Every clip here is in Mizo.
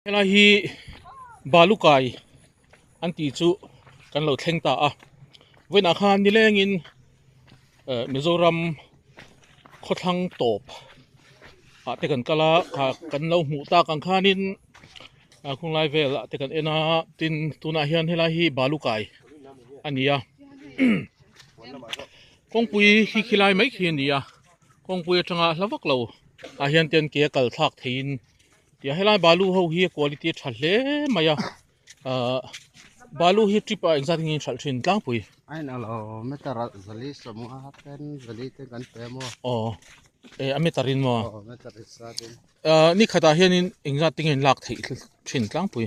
Helai hi balu kai an ti chu kan lo thleng ta a vawiinah khan nilengin eh, Mizoram khawthlang tawp ah te kan kal a kha kan lo hmuh tak ang khanin ah, khunglai vel ah te kan en a tin tunah hian helai hi balu kai a ni a kawngpui khi khilai mai khi a ni a kawngpui atanga hla vak lo ah hian ten ke kal thlak theihin Tia helai balu ho hi quality a tha hle mai a uh, balu hi trip a engzat ngin thal thin tlangpui ain alo meter zali somnga ten zali te kan pe mo o e a meter in mo o meter sa tin ni khata hian in engzat tingin lak thei thin tlangpui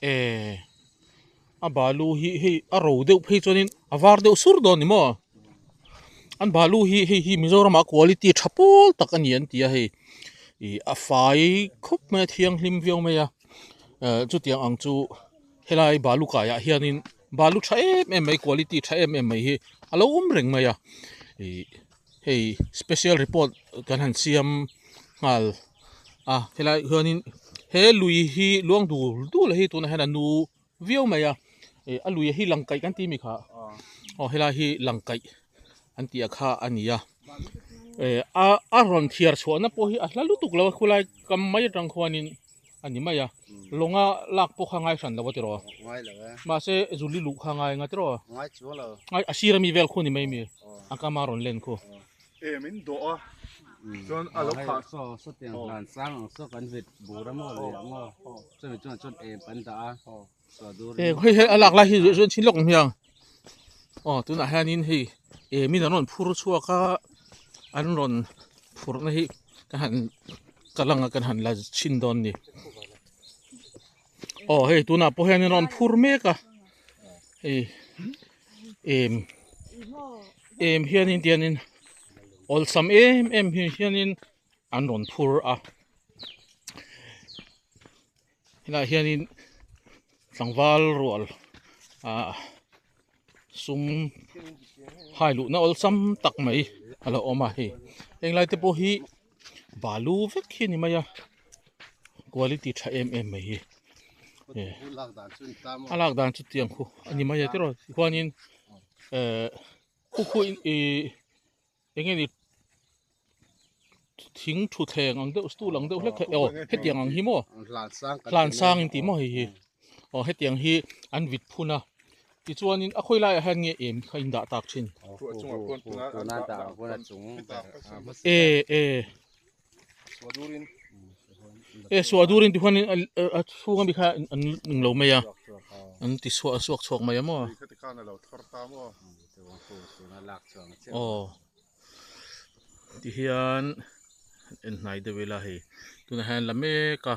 Eeh a balu hi hei a ro deuh phei chuanin a var deuh sur dawn a ni maw? An balu hi hei hi Mizoram a quality tha pawl tak a ni an ti a hei ih a fai khawp mai a thianghlim viau mai a eh chutiang ang chu helai balu kaiah hianin balu tha em em mai quality tha em em mai hi a lo awm reng mai a ih. hei special report kan han siam nghal a helai chuanin he lui hi luang dul dul a hi tunah hian a nu viau mai a ih a luia hi langkaih kan tih mi kha aw helai hi langkaih an tih a kha a ni a eh a a rawn thiar chhuahna pawh hi a hla lutuk lo a khulai kam mai atang khuanin. a ni mai a lawng a lak pawh kha ngai hran lo a ti rawh ngai lo e mahse zuli luh kha ngai nga ti rawh ngai chu lo ngai a sira mi vel khu ni mai mi a ka ma ron len khu em in do a chuan a lo kha so so tiang hlan sang so kan vit bura mo le mo chumi chuan chut em kan da a eng hei hi a lak lai hi chu chu an chhin lawk ang hiang aw tunah hianin hei emin an rawn phur chhuak a an rawn phurna hi ka han ka langa kan han la chhin dawn ni aw hei tunah pawh hian an rawn phur mek a hei em em hianin tianin awlsam em em hianin an rawn phur a Tunah hianin tlangval rual ah sum hai luhna awlsam tak mai a lo awm a hei henglai te pawh hi balu vek hi a ni mai a quality tha em em mai hi eh a lak dan chu tiang khuh a ni mai a tiraw tichuanin eh khu khu in ihh-- Eng nge ni thing thuthleng ang deuh stool ang deuh hlek hlek aw hetiang ang hi maw hlan sang in tih maw hei hi aw hetiang hi an vit phun a tichuanin a khawi laiah hian nge em kha in dah tak thin e e e suah dur in ti khuan a chhung a mi kha an ning lo mai a an ti suah suak chhuak mai a maw a aw ti hian en hnai deuh ila hei tunah hian la mek a.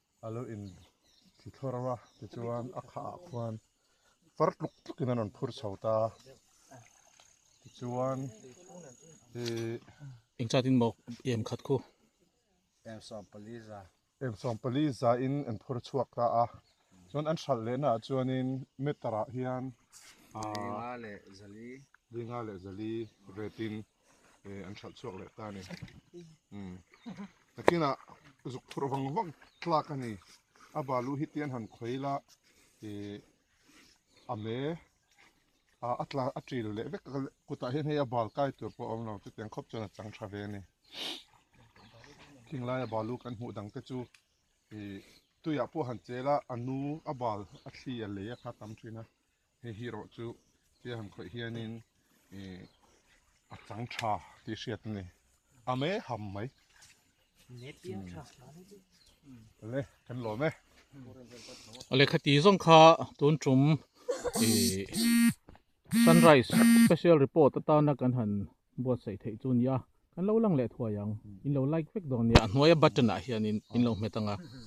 A lo in thi thlawrh a, tichuan a khah ah khuan far tluk tluk in a rawn phur chho ta. Tichuan ih. Eng chah tin maw em khat khu. Em sawm pali za. Em sawm pali za in an phur chhuak ta a. Chuan an hralh leh naah chuan in meter ah hian ah. Dinga leh zali. Dinga leh zali ret in. e an chhalh chuak leh ta ni um takina zuk thur vang vang tlak ani a balu hi tian han khoi la e ame a atla atril le vek kuta hian hei a bal kai tur pawh awm lo te tiang khop chuan a chang tha ve ani khinglai a balu kan hmuh dang te chu e tuiah pawh han chela anu a bal a thli a lei a kha tam thin a Hei hi erawh chu tia han khawih hianin a chang tha tih hriat a ni. A mei ham mai. Le kan lawm e. Lehkha ti zawng kha tun tum sunrise special report atana kan han buatsaih theih chu a ni a. Kan lo lang leh thuai ang. In lo like vek dawn a nia. A hnuaia button ah hianin in lo hmet ang a.